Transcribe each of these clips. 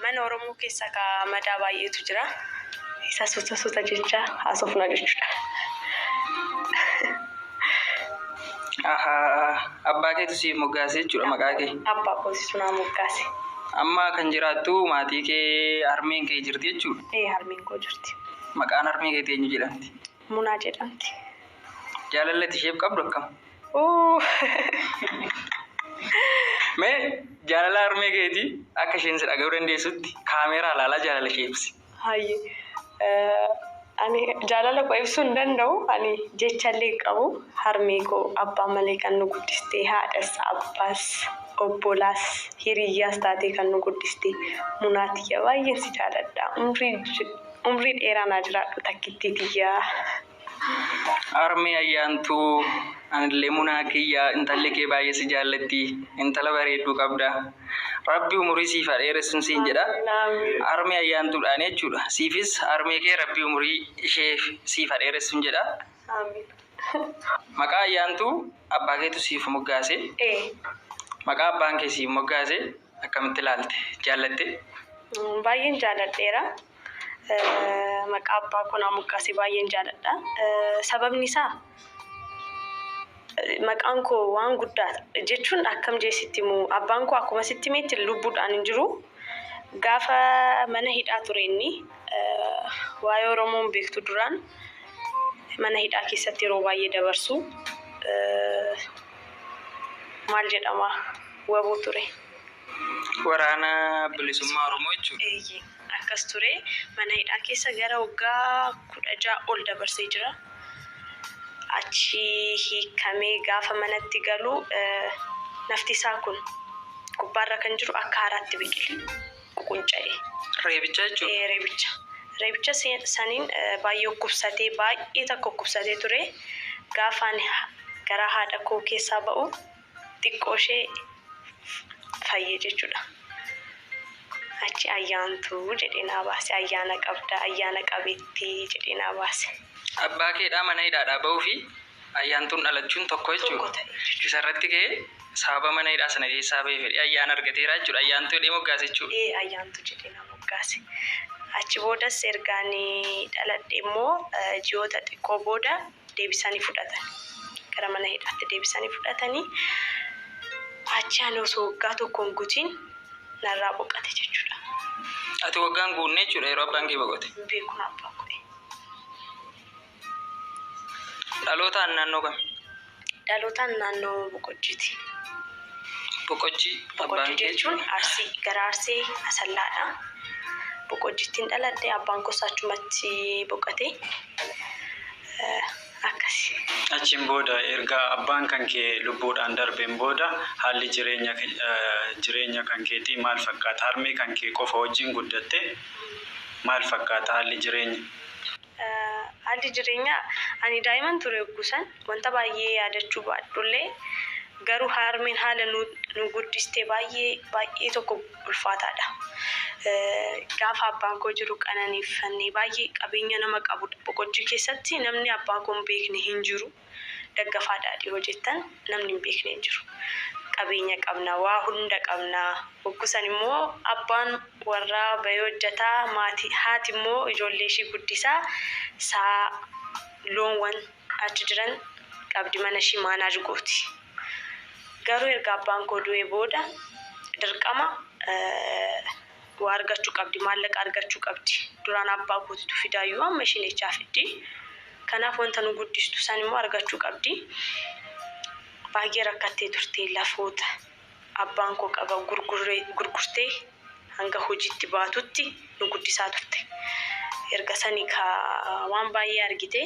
Mana Oromoo keessa kaa madaa baay'eetu jira. Isa suuta suuta jechaa haasofna jechuudha. Ahaa, abbaa keetu siif moggaase jechuudha maqaa kee. Abbaa koositu naa moggaase. Amma kan jiraattu maatii kee harmeen kee jirti jechuudha. Ee harmeen koo jirti. Maqaan harmee keetii eenyu jedhamti? Munaa jedhamti. Jaalalli ati isheef qabdu akkam? Mee jaalala harmee keetii akka isheen si dhaga'uu dandeessutti kaameeraa ilaalaa jaalala ishee ibsi. Hayye. Ani jaalala koo ibsuu hin danda'u. Ani jechallee hin qabu. Harmee koo abbaa malee kan nu guddiste haadhas, abbaas, obbolaas, hiriyyaas taatee kan nu guddiste Munaa tiyya baay'een si jaaladha. Umrii Umrii dheeraa naa jiraadhu takkittii tiyyaa. Harmee Ayyaantuu anillee munaa kiyya intalli kee baay'ee si jaallatti intala bareedduu qabda rabbi umurii siif haa dheeressun siin jedha harmee Ayyaantuudhaan jechuudha siifis harmee kee rabbi umurii ishee siif haa dheeressun jedha maqaa Ayyaantuu abbaa keetu siif moggaase maqaa abbaan kee siif moggaase Akkamitti ilaalte? Jaallattee? Baay'een jaaladheera. Maqaa abbaa koo naa moggaase baay'een jaaladha. Sababni isaa maqaan koo waan guddaa jechuun akkam jee sitti himu abbaan koo akkuma sitti himetti lubbuudhaan hin jiru. Gaafa mana hidhaa ture inni waa'ee Oromoo hin beektu duraan mana hidhaa keessatti yeroo baay'ee dabarsu. maal jedhama waboo ture. Waraana Bilisummaa Oromoo jechuudha. Eeyyee akkas ture. Mana hidhaa keessa gara waggaa kudha ja'a ol dabarsee jira. Achi hiikamee gaafa manatti galu eh, nafti isaa kun gubbaarra kan jiru akka haaraatti biqile. qunca'e. Reebicha jechuun? Ee reebicha. Reebicha saniin baay'ee dhukkubsatee baay'ee takka dhukkubsatee ture. Gaafa ani garaa haadha koo keessaa ba'u xiqqoo ishee fayye jechuudha. Achi ayyaantuu jedhee naa baase. Ayyaana qabda, ayyaana qabeettii jedhee naa baase. Abbaa keedhaa mana hidhaadhaa ba'uu fi Ayyaantuun dhalachuun tokko jechuudha. Isa irratti ka'ee sababa mana hidhaa sana keessaa ba'ee fedhii ayyaana argateera jechuudha. Ayyaantuu jedhee moggaase jechuudha. Ee ayyaantuu jedhee na moggaase. Achi boodas erga ani dhaladhe immoo ji'oota xiqqoo booda deebisanii fudhatan. Gara mana hidhaatti deebisanii fudhatanii achi ani osoo waggaa tokko hin gutiin narraa boqate jechuudha. Ati waggaan guunne jechuudha yeroo abbaan kee boqote. Hin beekun abbaan koo. Dhalootaan naannoo kami? Dhalootaan naannoo Boqojjiiti. Boqojjii abbaan Boqojjii kee? jechuun Arsii, gara Arsii Asallaadha. Boqojjittiin dhaladhe, abbaan koos achumatti boqote. Eh, Akkasi. Achiin booda erga abbaan kan kee lubbuudhaan darbeen booda haalli jireenya ke- eh, jireenya kan keetii maal fakkaata? Harmee kan kee qofa wajjin guddatte maal fakkaata haalli jireenya? Haalli jireenyaa ani daa'iman ture yogguu san wanta baay'ee yaadachuu baadhullee garuu haarmeen haala nu guddiste baay'ee baay'ee tokko ulfaataadha. Gaafa abbaan koo jiru qananiiffanne baay'ee qabeenya nama qabudha. Boqojjii keessatti namni abbaa koo hin beekne hin jiru. Daggafaa Daadhii hoo jettan namni hin beekne hin jiru. Qabeenya qabna, waa hunda qabna. Hogguu san immoo abbaan warraa bahee hojjata, maatii, haati immoo ijoollee ishii guddisaa, sa'a, loonwan achi jiran qabdi, mana ishii manage gooti. Garuu erga abbaan koo du'ee booda dirqama Waa argachu qabdi maallaqa argachu qabdi duraan abbaa kootitu fidaayyuu amma ishiin echaa fiddi kanaaf wanta nu guddistu san immoo argachu qabdi baay'ee rakkattee turte lafoota abbaan koo qaba gurgurree gurgurtee hanga hojiitti baatutti nu guddisaa turte erga sani ka waan baay'ee argite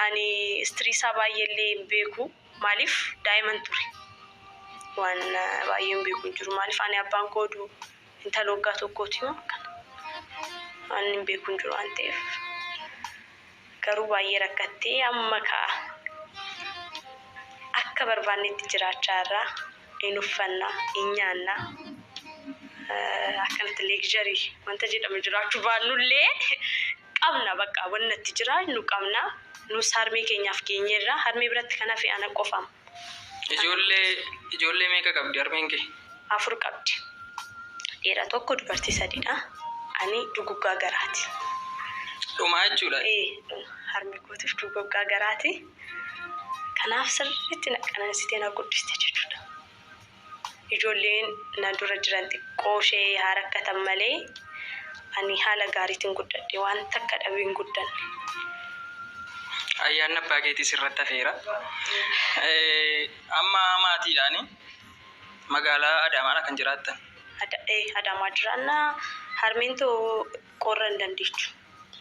ani istiriisaa baay'eellee hin beeku Maaliif daa'iman ture? Waan baay'een beeku hin jiru. Maaliif ani abbaan koo du intala waggaa tokkooti moo akkana? Waan hin beeku hin jiru waan ta'eef. Garuu baay'ee rakkattee amma ka'a. Akka barbaannetti jiraachaa irraa hin uffanna, hin nyaanna. Akkanatti leegjarii wanta jedhamu jiraachuu baannullee qabna baqqa wanni natti jira nu qabna nus harmee keenyaaf geenyeerra harmee biratti kan hafe ana qofam. Ijoollee ijoollee meeqa qabdi harmeen kee? afur qabdi dhiira tokko dubartii sadidha ani duguggaa garaati. Dhuma jechuudha. Ee dhuma harmee kootiif dugoggaa garaati kanaaf sirriitti na qanansitee na guddiste jechuudha. Ijoolleen na dura jiran xiqqooshee haa rakkatan malee ani haala gaariitiin guddadhe. Waan takka dhabee hin guddanne. Ayyaanni abbaa keetii sirratti hafeera. Amma maatiidhaan magaalaa Adaamaadha kan jiraattan? Adaamaa jiraanna. Harmeen too qorra hin dandeechu.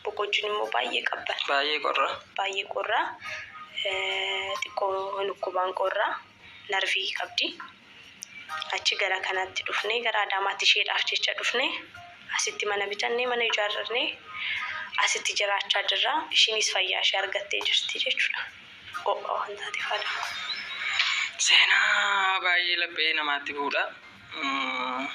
Boqojjiin immoo baay'ee qabbana. Baay'ee qorra. Baay'ee qorra. Xiqqoo hin dhukkubaan qorra. narvii qabdi. Achi gara kanatti dhufnee gara Adaamaatti isheedhaaf jecha dhufne. Asitti mana bitannee mana ijaarrannee asitti jiraachaa jirra. Ishiinis fayyaa ishee argattee jirti jechuudha. Ho'a waan taateef Adaama. Seenaa baay'ee laphee namaatti bu'udha. Mm.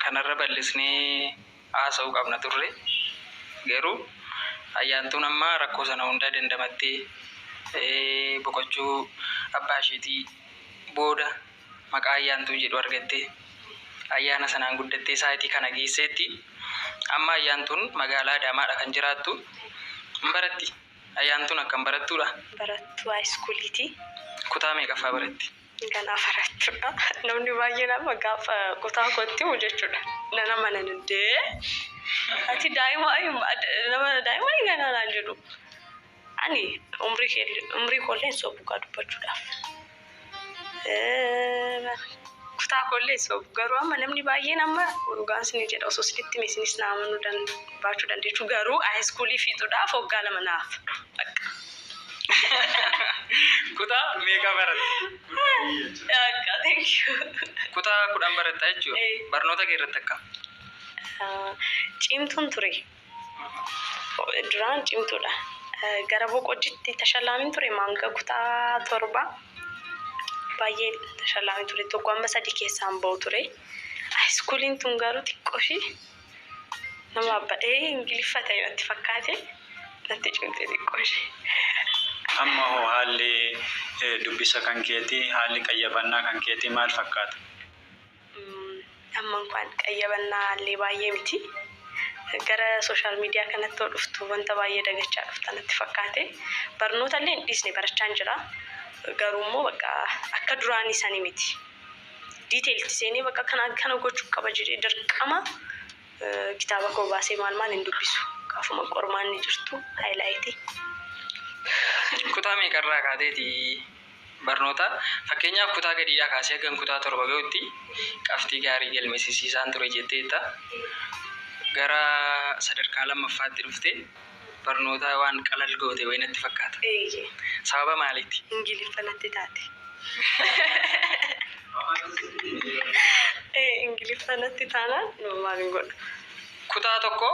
kanarra bal'isnee haasa'uu qabna turre. Garuu Ayyaantuun amma rakkoo sana hundaa dandamattee boqochuu abbaa isheetii booda maqaa Ayyaantuu jedhu argattee ayyaana sanaan guddattee saayitii kana geesseetti. Amma Ayyaantuun magaalaa Adaamaadha kan jiraattu. Hin baratti? Ayyaantuun akkam barattuudha? Barattuu haayiskuuliiti. Kutaa meeqaffaa baratti? Ganaa barachuudha namni baay'een amma gaafa kutaa kootti himu jechuudha nan amanan indee ati daa'ima nama daa'ima ganaa naan jedhu ani umrii kee umrii koollee hin sobu kaa dubbachuudhaaf kutaa koollee hin sobu garuu amma namni baay'een amma dhugaan sinii jedha osoo sinitti hime sinis naa amanuu baachuu dandeechu garuu aayiskuulii fiixuudhaaf waggaa lama naaf bakka. Kutaa meeqa baratte? Akka thank you. Kutaa kudhan baratta jechuudha. Ee. Barnoota kee irratti akkam? Ah, Cimtuun ture. Duraan cimtuudha. Ah, Gara boqojjitti tashallaamin ture hanga kutaa torba. Baay'ee tashallaamin ture. Tokko amma sadii keessaan ba'u ture. Haayiskuuliin tun garuu xiqqoo ishii Nama badhee ingiliffa ta'e natti fakkaate natti cimte xiqqoo ishee. Amma hoo haalli dubbisa kan keetii, haalli qayyabannaa kan keetii maal fakkaata? Amma inkwaan qayyabannaa illee baay'ee miti. Gara sooshaal miidiyaa kanatti yoo dhuftu wanta baay'ee dagachaa dhufta natti fakkaate. Barnoota illee hin dhiisne barachaan jira. Garuu immoo bakka akka duraanii sani miti. diiteelti seenee bakka kana akkana gochuu qaba jedhee dirqama kitaaba koo baasee maal maal hin dubbisu. Gaafuma qormaanni jirtu haayilaayitii. Kutaa meeqarraa kaateeti barnoota fakkeenyaaf kutaa gadiidhaa kaasee hagan kutaa torba gahutti qabxii gaarii galmeessisiisaan ture jetteetta. Gara sadarkaa lammaffaatti dhufte barnootaa waan qalal goote wayii natti fakkaata. Eeyyee. Sababa maaliiti? Ingiliffa natti taate. Ee Ingiliffa natti taanaan maalin godha? Kutaa tokko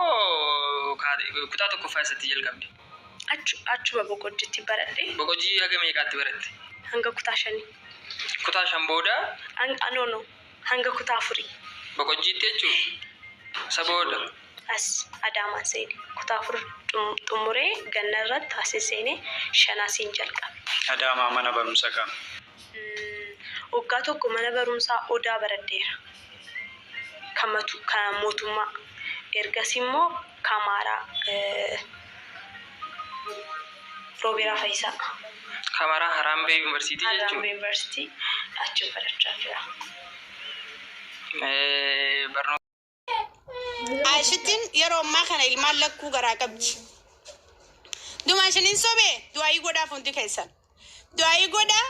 kaate kutaa tokkoffaa eessatti jalqabde? Achu, achuma Boqojjitti baradhe Boqojjii haga meeqaatti baratte? hanga kutaa shanii. Kutaa shan booda? An, ah, no, no. hanga kutaa afurii. Boqojjiitti jechuu? Isa booda? As Adaamaan seene. Kutaa afur xummuree ganna irratti asin seene shan asiin jalqabe. Adaamaa mana barumsa kam? Waggaa tokko mana barumsaa Odaa baradheera. Kan mootummaa. Ergasii immoo. Kamara Robera Fayisa. Kamara Harambe University jechuudha. Harambe University achi barachaa jira. Barnoota. Aayishitiin yeroo ammaa kana ilmaan lakkuu garaa qabdi. Dumaa isiniin sobee du'aayii godhaaf hundi keessan. Du'aayii godha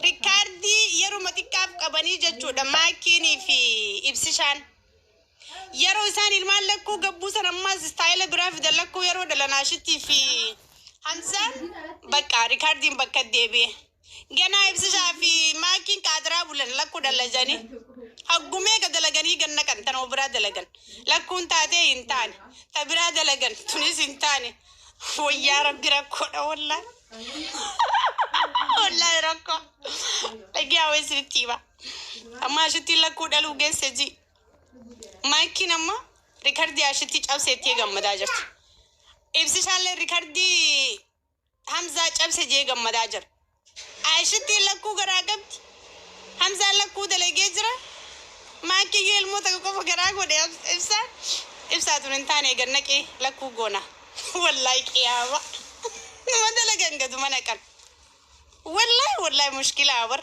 rikkaardii yeruma xiqqaaf qabanii jechuudha maakiinii fi ibsishaan. Yeroo isaan ilmaan lakkuu gabbuu san ammaas istaayila biraa fidan lakkuu yeroo dhalanaashittii fi hamzaan bakka rikaardiin bakka deebi'e. Ganaa ibsishaa fi maakiin qaadiraa bulan lakkuu dhalajanii. Haggumee ka dalaganii ganna kan tanoo biraa dalagan. Lakkuun taatee hin taane. Ta biraa dalagan tunis hin taane. Wayyaa rabbi rakkoodha wallaa. Wallaa rakkoo. Dhagaa wayii isinitti hima. Amma ashittiin lakkuu dhaluu geesse ji. Maayikiin amma rikardii ashittii cabse itti gammadaa jirti. Ibsishaallee rikardii Hamzaa cabse jee gammadaa jira. Ashittiin lakkuu garaa qabdi. Hamzaan lakkuu dalagee jira. Maakiyyuu ilmoo takka qofa garaa godhe ibsaa. Ibsaa tun hin taane eegan naqee lakkuu goona. Wallahi qiyaama. Nama dalagan gaduma naqan. Wallahi wallahi mushkilaa bar.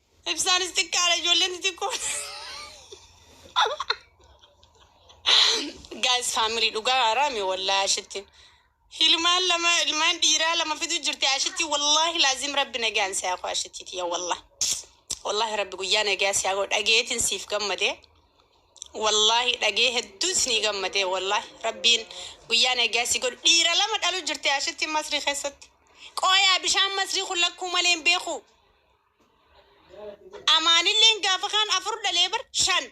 Ibsaanis xiqqaadha ijoolleen xixiqqoo. Gaayis faamirii dhugaa haraami wallaahi ashitti. Ilmaan lama ilmaan dhiiraa lama fidu jirti ashitti wallaahi laazim rabbi nagaan si haa koo ashitti tiyya wallaahi. Wallaahi rabbi guyyaa nagaa si haa koo dhageetiin siif gammadee. Wallaahi dhagee hedduu isinii gammadee wallaahi rabbiin guyyaa nagaa si godhu dhiira lama dhalu jirti ashitti masrii keessatti. Qooyaa bishaan masrii kun lakkuu malee hin beeku. Amaanilleen gaafa kaan afur dhalee bar shan.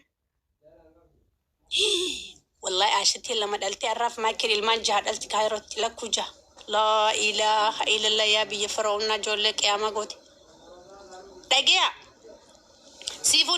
Wallahi Aashitiin lama dhaltee har'aaf Maayikil ilmaan jaha dhalti kaayirootti lakkuu jaha. Laa ilaaha illallah yaa biyya firoo'unnaa ijoollee qiyaamaa goote. Dhageeyaa. Siifuu